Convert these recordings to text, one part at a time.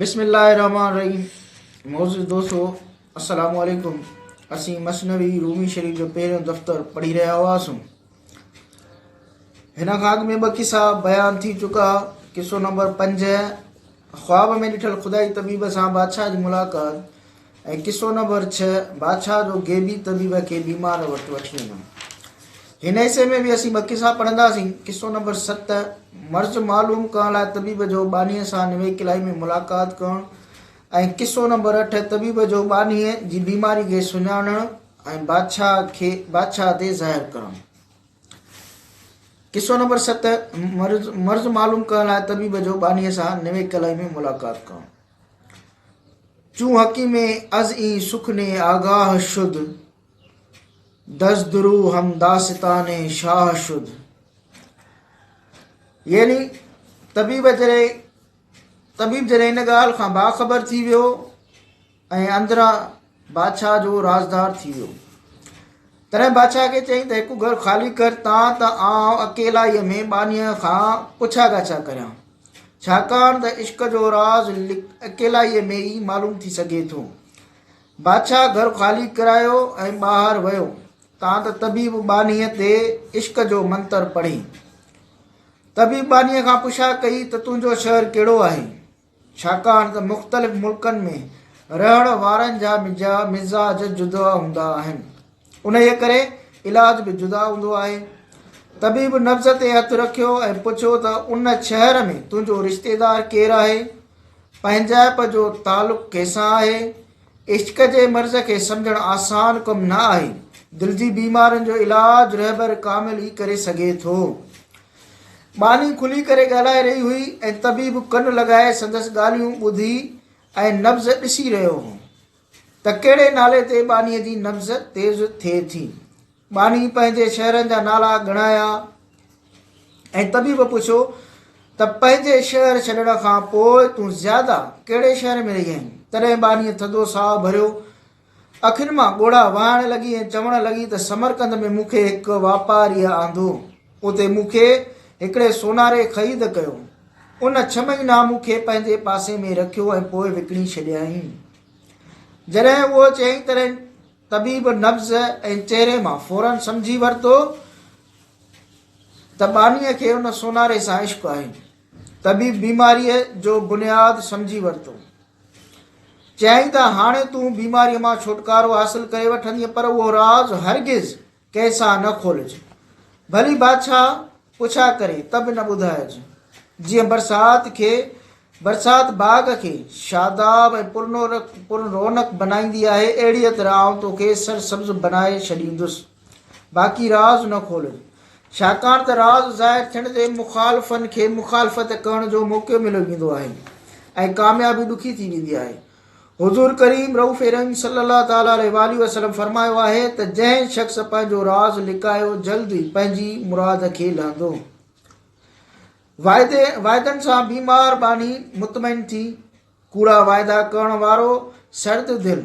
بسم الله الرحمٰن الرحيم معزز دوستو السلام عليڪم اسين مثنوي رومي شريف جو پهريون دفتر پڙهي رهيا هئاسون هن خاڪ ۾ ٻه قصا بيان ٿي چڪا قصو نمبر پنج خواب ۾ ڏٺل خدائي طبيب سان بادشاهه جي ملاقات ۽ قصو نمبر ڇهه بادشاهه جو غيبي طبيب کي بيمار وٽ وٺي وڃڻ هن حصي ۾ به اسين ٻه قصا پڙهنداسين قصو نمبر ست مرض معلوم ڪرڻ لاء طبيب جو ٻانهيء سان نوي قلعي ۾ ملاقات ڪرڻ ۽ قصو نمبر اٺ طبيب جو ٻانهيء جي بيماري کي سڃاڻڻ ۽ بادشاهه کي بادشاهه تي ظاهر ڪرڻ قصو نمبر ست مرض مرض معلوم ڪرڻ لاء طبيب جو ٻانهيء سان نوي قلعي ۾ ملاقات ڪرڻ چون حڪيم از اين سخني آگاه شد دز درو هم داستان شاه شد يعني طبيب جڏهن طبيب جڏهن ان ڳالهه کان باخبر ٿي ويو ۽ اندران بادشاهه جو رازدار ٿي ويو. تڏهن بادشاهه کي چيائين ته هڪ گهر خالي ڪر تان ته آئون اڪيلائيء ۾ ٻانهيء کان پڇا ڳاڇا ڪريان. ڇاڪاڻ ته عشق جو راز اڪيلائيء ۾ ئي معلوم ٿي سگهي ٿو. بادشاهه گهر خالي ڪرايو ۽ ٻاهر ويو تان ته طبيب ٻانهيء تي عشق جو منتر پڙهي. طبيب ٻانهيء کان پڇا ڪئي ته تنهنجو شهر ڪهڙو آهي؟ ڇاڪاڻ ته مختلف ملڪن ۾ رهڻ وارن جا مزاج جدا هوندا آهن انهيء ڪري علاج به جدا هوندو آهي طبيب نبض تي هٿ رکيو ۽ پڇيو ته ان شهر ۾ تنهنجو رشتيدار ڪير آهي پنهنجائپ جو تعلق ڪنهنسان آهي عشق جي مرض کي سمجهڻ آسان ڪم نه آهي دل جي بيمارين جو علاج رهبر ڪامل ئي ڪري سگهي ٿو ٻانهي کلي ڪري ڳالهائي رهي هئي ۽ طبيب ڪن لڳائي سندس ڳالهيون ٻڌي ۽ نبض ڏسي رهيو هو ته ڪهڙي نالي تي ٻانهي جي نبض تيز ٿئي ٿي. ٻانهي پنهنجي شهرن جا نالا ڳڻايا ۽ طبيب پڇيو ته پنهنجي شهر ڇڏڻ کان پوء تون زياده ڪهڙي شهر ۾ رهي آهين؟ تڏهن ٻانهي ٿڌو ساهه ڀريو اکين مان ڳوڙها وهائڻ لڳي ۽ چوڻ لڳي ته سمرقند ۾ مون کي هڪ واپاريء آندو. اتي مون کي هڪڙي سوناري خريد ڪيو. ان ڇهه مهينا مون کي پنهنجي پاسي ۾ رکيو ۽ پوء وڪڻي ڇڏيائين. جڏهن اهو چيائين تڏهن طبيب نبض ۽ چهري مان فوراً سمجهي ورتو ته ٻانهيء کي ان سوناري سان عشق آهي. طبيب بيماريء جو بنياد سمجهي ورتو. چيائين ته هاڻي تون بيماريء مان ڇوٽڪارو حاصل ڪري وٺندينء پر اهو راز هرگز ڪنهن سان نه کولج. ڀلي بادشاهه پڇا ڪري ته به نه ٻڌائج. جيئن برسات کي برسات باغ کي شاداب ۽ پر رونق بنائيندي آهي، اهڙيء طرح آئون توکي سرسبز بنائي ڇڏيندس. باقي راز نه کولج، ڇاڪاڻ ته راز ظاهر ٿيڻ تي مخالفن کي مخالفت ڪرڻ جو موقعو مليو ويندو آهي ۽ ڪاميابي ڏکي ٿي ويندي آهي. حضور ڪريم رئوف رحيم صلّي الله تعالٰي عليه واٰله وسلّم فرمايو آهي ته جنهن شخص پنهنجو راز لڪايو جلد ئي پنهنجي مراد کي لهندو. واعدي واعدن سان بيمار ٻانهي مطمئن ٿي، ڪوڙا واعدا ڪرڻ وارو سرد دل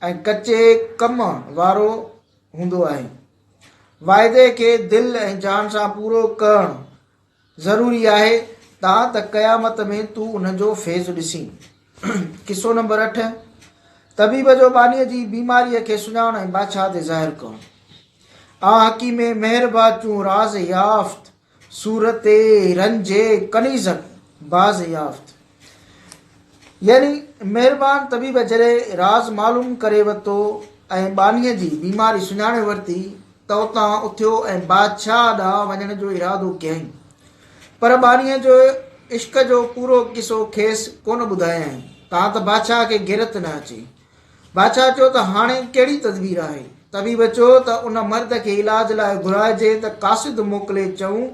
۽ ڪچي ڪم وارو هوندو آهي. واعدي کي دل ۽ جان سان پورو ڪرڻ ضروري آهي تا ته قيامت ۾ تون ان جو فيض ڏسين. قصو نمبر اٺ، طبيب جو ٻانهيء جي بيماريء کي سڃاڻڻ ۽ بادشاهه تي ظاهر ڪرڻ. آ حڪيمي مهربان چون راز يافت! صورت رنج ڪنيزڪ باز يافت يعني مهربان طبيب جڏهن راز معلوم ڪري ورتو ۽ ٻانهيء جي بيماري سڃاڻي ورتي ته اتان اٿيو ۽ بادشاهه ڏانهن وڃڻ جو ارادو ڪيائين. پر ٻانهيء جي عشق جو پورو قصو کيس ڪونه ٻڌايائين تان ته بادشاهه کي غيرت نه اچي. بادشاهه چيو ته هاڻي ڪهڙي تدبير آهي؟ طبيب چيو ته ان مرد کي علاج لاء گهرائجي ته قاصد موڪلي چئون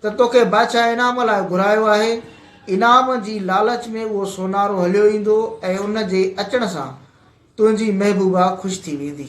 ته توکي بادشاهه انعام لاء گهرايو آهي. انعام جي لالچ ۾ اهو سونارو هليو ايندو ۽ ان جي اچڻ سان تنهنجي محبوبا خوش ٿي ويندي.